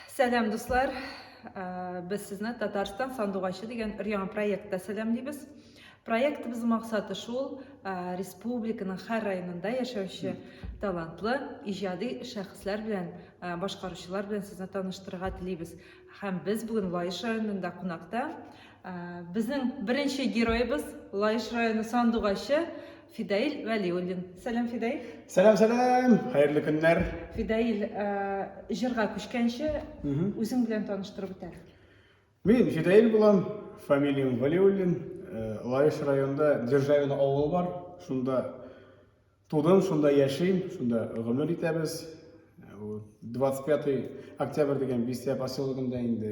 Сәлам дуслар! Без сезне Татарстан сандугачы дигән өр-яңа проектта сәламлибез. Проектыбыз максаты шул, республиканың һәр районында яшәүче талантлы, иҗади шәхесләр белән, башкаручылар белән сезне таныштырырга телибез. Һәм без бүген Лаеш районында кунакта. Безнең беренче героебыз Лаеш районы сандугачы Фидаиль Вәлиуллин. Сәлам, Фидаиль. Сәлам, сәлам. Хәерле көннәр. Фидаиль, э, җырга күчкәнче, үзең белән таныштырып үтә. Мин Фидаиль булам, фамилиям Валиуллин. Э, Лаеш районында Державино авылы бар. Шунда тудым, шунда яшим, шунда гомер итәбез. 25 э, октябрь дигән бистә поселогында инде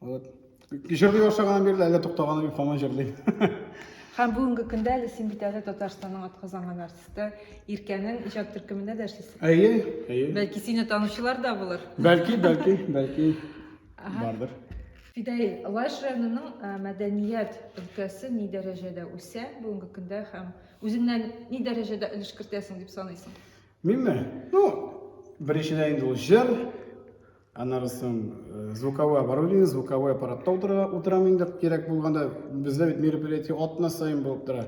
Вот. Җырлый башлаганнан бирле әллә туктаганы юк, һаман җырлыйм. Һәм бүгенге көндә әле син бит әле Татарстанның атказанган артисты Иркәнең иҗат төркемендә дә эшлисең. Әйе, әйе. Бәлки сине танучылар да булыр. Бәлки, бәлки, бәлки бардыр. Фидаил, Лаеш районының э, мәдәният өлкәсе ни дәрәҗәдә үсә бүгенге көндә һәм үзеңнән ни дәрәҗәдә өлеш кертәсең дип саныйсың? Минме? Ну, беренчедән инде ул җыр, Аннары соң звуковой оборудование, звуковой аппаратта утыра, утырам инде кирәк булганда. Бездә бит мероприятие атна саен булып тора.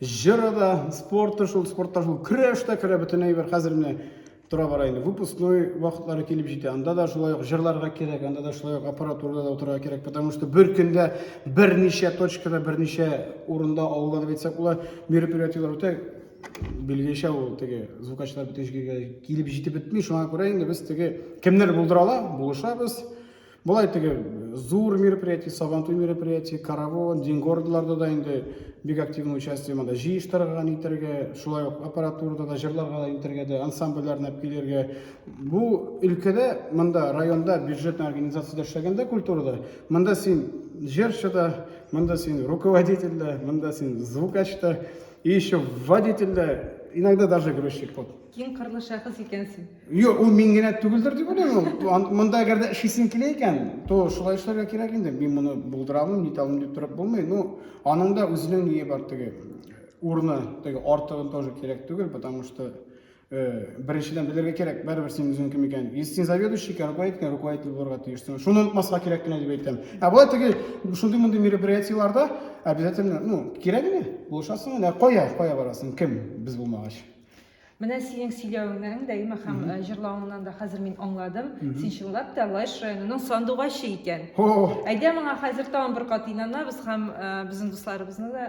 Җыры да, спорты шул, спортта шул, көрәш тә керә бөтен әйбер. Хәзер менә тора бара инде. Выпускной вакытлары килеп җитә. Анда да шулай ук җырларга кирәк, анда да шулай ук аппаратурада да утырырга кирәк, потому что бер көндә берничә точкада, берничә урында авылда дип әйтсәк, улар мероприятиеләр үтә Билгечә ул теге звукачлар бөтен җиргә килеп җитеп бетми, шуңа күрә инде без теге кемнәр булдыра ала, булышабыз. Болай теге зур мероприятие, сабантуй мероприятие, каравон, дингордларда да инде бик активный участие монда җыештырырга, нитәргә, шулай ук аппаратурада да җырларга да нитәргә дә, ансамбльләрне алып килергә. Бу өлкәдә, монда районда бюджетный организациядә эшләгәндә культурада, монда син җырчы да, монда син руководитель дә, монда син звукач та, И еще водитель да, иногда даже грузчик вот. Киң кырлы шәхес икәнсең. Юк, ул мин генә түгелдер дип уйлыйм. ул. Ан- Монда әгәр дә эшлисең килә икән, то шулай эшләргә кирәк инде. Мин моны булдыра алмыйм, нитә алмыйм дип торып булмый. Ну, аның да үзенең ние бар теге урыны, теге артыгын тоже кирәк түгел, потому что Беренчедән белергә кирәк, бәрбер син үзең кем икән. Если син заведующий икән, руководитель икән, руководитель булырга тиешсең. Шуны онытмаска кирәк кенә дип әйтәм. Ә болай теге шундый мондый мероприятиеләрдә обязательно, ну, кирәк генә, булышасың гына. Кая, кая барасың? Кем без булмагач? Менә синең сөйләвеңнән дә имә һәм э, җырлавыңнан да хәзер мин аңладым. Син чынлап та Лаеш районының сандугачы икән. О, Әйдә моңа хәзер тагын бер кат инанабыз һәм э, безнең дусларыбызны да